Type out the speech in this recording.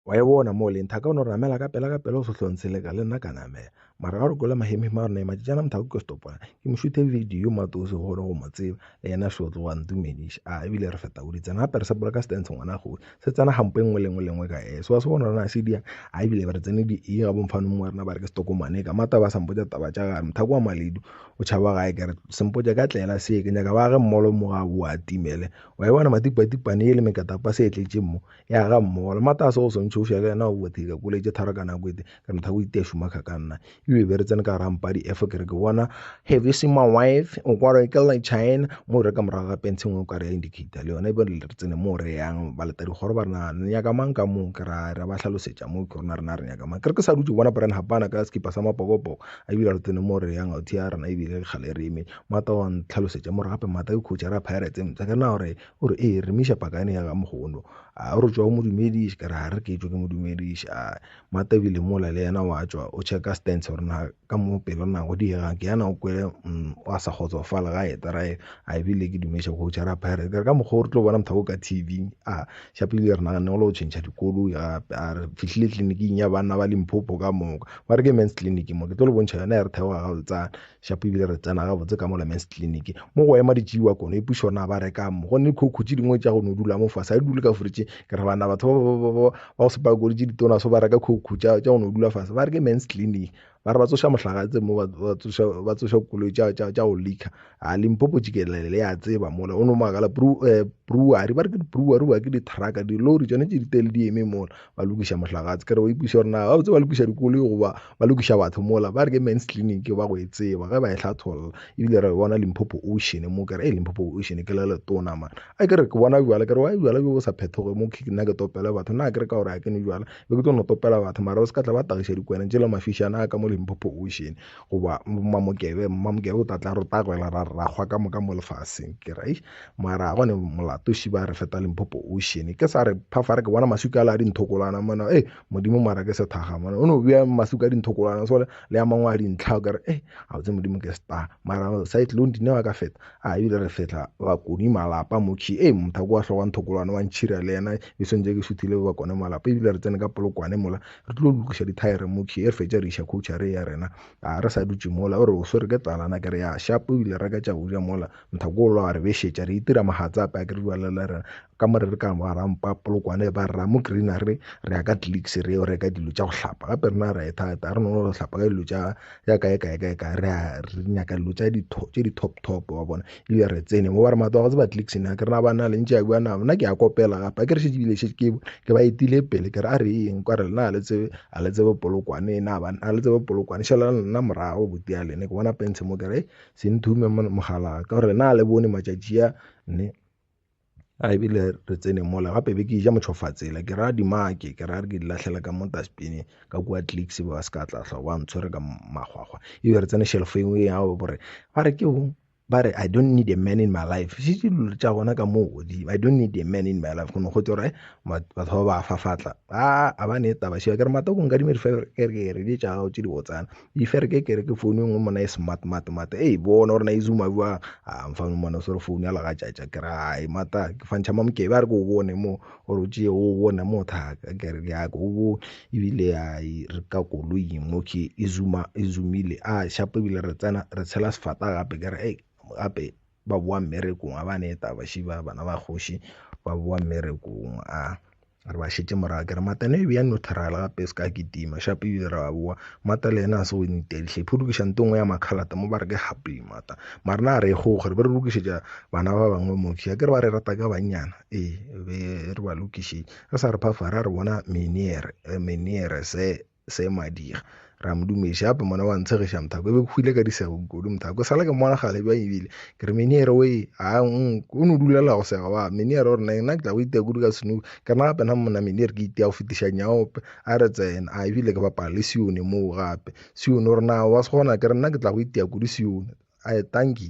wa e bona mo leng thaka o no ramela ka pela ka pela o sohlong se leka le nna ka namela mara ga re kwela mahemihema a rona e matšatšana mothako ke stopona ke mo šuthe video matose gore go mo tseba le yena shotlo wa ntumediša a ebile re feta odi tsena gape re sepole ka stance ngwana godi se tsena gampo e nngwe le nngwe lengwe ka ese wa se bona rona se dia a ebile re tsene di e ga bomfanong wa rena ba re ke stokomane ka mata ba sampotsa taba tša gare mothako wa maledu o tšhaba gae ke re sempotsa ka tlela se ke nyaka ba ge mmolo mo ga boa timele wa e bona matipatipane e le mekatapa se e tletše mo ya ga mmogo le matase go swantšhe o fša le yena o bothile ka kuletše tharo ka nako ete ka motha o itea šumakha ka nna ebe be re tsene ka gara mpadi efo ke re ke bona have you seen my wife o kware ke le china mo re ka morago ga pence ngwe o ka re ya indicator le yona ebe re tsene mo re yang ba leta dikgoro ba rena ne nyaka mang ka moo ke ra ra ba hlalosetša mo ke rona rena re nyaka mang ke re ke sa dutse bona brand hapana ka sekipa sa mapokopoko a ebile re tsene mo re yang authi ya rena ebile kgale re eme mata wa ntlhalosetša mo re gape mata ke coach ra pirates mpša ke na gore O re, Ee, re miša pakane ya gaMogono. A o re tšwa o mo dumediše? Ka re, Ga re ke tšwe ke mo dumediše. A Mata o bile mola le yena, o a tšwa o tšheka stents gore na ka mo pelo na go diegang. Ke yana o kwele umm o a sa kgotsofala ga a eta ra e a e bile ke dumeša go tšwa ra phayara. Ke re, Ka mokgwa o re tlo bona mothaka o ka TV. A ša pele re naganne go la go tšhentšha dikoloi gape. A re fihlile tleliniking ya banna ba Limpopo ka moka. Ba re ke men's clinic mo, ke tlo le bontšha yona ya re theoga gabotsana. Shapo ebile re tsena gabotse ka mola men's clinic mo go ema ditšiwa kono e pušo na ba reka mo go ne khokho tše dingwe tša go no dula mo fase a dule ka fridge ke re bana batho ba go sepa kore tše ditona so ba reka khokho tša go no dula fase ba re ke men's clinic ba re ba tsoša mohlagatse mo ba tsoša koloi tša go leaker a limpopo tšikelele le ya tseba mola o no makala eh, brewery ba re ke di-brewery ba ke di-trucka di-lori tšone tše ditele di eme mola ba lokiša mohlagatse ke re o ipuša gore na ba botse ba lokiša dikoloi goba ba lokiša batho mola ba re ke mens clinic ba go e tseba ge ba e hlatholla ebile re bona limphopo ocean mo kere e limphopo ocean ke le letona man a ke re ke bona bjala ke re wa bjala bjo bo sa phethoge mo ke nna ke topela batho na ke re ka gore a ke ne bjala be ke tlo no topela batho mara o se ka tla ba tagiša dikwena tšela mafišana a ka mo limphopo ocean goba mmamokebe mmamokebe o tatla re tagwela ra rakgwa ka moka mo lefaseng ke re mara gone molato šiba re feta limphopo ocean ke sa re phafare ke bona maswika a le a dinthokolwana mona e modimo mara ke sethaga mona o no bea masu ka dinthokolwana sole le ya mangwe a dintlha o kare e eh, a botse modimo ke star mara cyclone dine wa ka feta a ebile re fetla bakoni malapa mokhi e eh, motha ko wa tlhoka nthokolwana wa ntšhira le yena e swentse ke suthile ba bakone malapa ebile re tsene ka polokwane mola re tlo lokiša dithaere mokhi e re fetša re iša coacha re ya rena a re sa dutše mola o re o swere ke talana ke re ya shapo ebile re ka tša uja mola motha ko o lwa re bešetša re itira mahatsape a ke re dualela rena ka mo re re ka ba rampa polokwane ba re mo green a re re ya ka clicks re yo reka dilo tša go hlapa gape rena ra e thata re no go hlapa ka dilo tša ya kae kae kae kae re re nyaka dilo tša di tse di top top wa bona e be re tsene mo ba re matlo a go tseba clicks ne ke rena ba na le ntše ya bua na bona ke ya kopela gape a ke re šetse bile šetse ke ke ba etile pele ke re a re eng kwa re na le tsebe a le tsebe polokwane na ba na le tsebe polokwane šala nna morago botia lene ke bona pentshe mo ke re se nthume mogala ka gore na le bone matšatši a ne a ebile re tsene mola gape be ke ija motšhofatsela ke ra dimake ke ra re ke di lahlela ka mo dustbine ka kua clicks ba se ka tla tlhoa ba ntshwere ka makgwakgwa ebe re tsene shelf e nngwe ya gore ba re ke bong ba re i don't need a man in my life se se dilo tša gona ka moo godimo i don't need a man in my life go ne go tse gore eh, batho ba ba fafatla a a ba ne taba sheba ke re matoko nka di merifere ke re di tša gago tše di botsana If re ke kere ke phone engwe mona e smart mart mart ei bona gore na e zuma bjang, aa mfang mona o swere phone ya legatšatša kere hai mata ke fantšha mamokebe a re ke o bone mo ore o tšee o bone mo thaka kere ke nyake o bone, ebile hai re ka koloing mo okay e zuma e zumile a shapo ebile re tsena re tshela sefata gape kere ei gape. ba bowa mmerekong a ba ne eta baši ba bana ba kgoši ba bowa mmerekong a re ba šetše morago ke re mata ne e bea neutral gape se ka ke tima shape ebile re ba bowa mata le yena a se o ntedihle phudukiša nto nngwe ya makhalata mo ba re ke happy mata mara na re go gore be re lokišetša bana ba bangwe moki a ke re ba re rata ka bannyana ee be re ba lokišetša re sa re phafa ra re bona miniere miniere se se madira ra mo dumeša gape mona wa ntshegiša mothako e be ke hwile ka disego kudu mothako sala ke mmona gale bjang ebile ke re meniere o e a o ne o dulela go sega wa meniere o rena nna ke tla go itea kudu ka senuku ke rena gape na monna meniere ke itea go fetiša nyaope a re tsena a ebile ke bapala le sione moo gape sione o rena wa se gona ke re nna ke tla go itea kudu sione a e tanki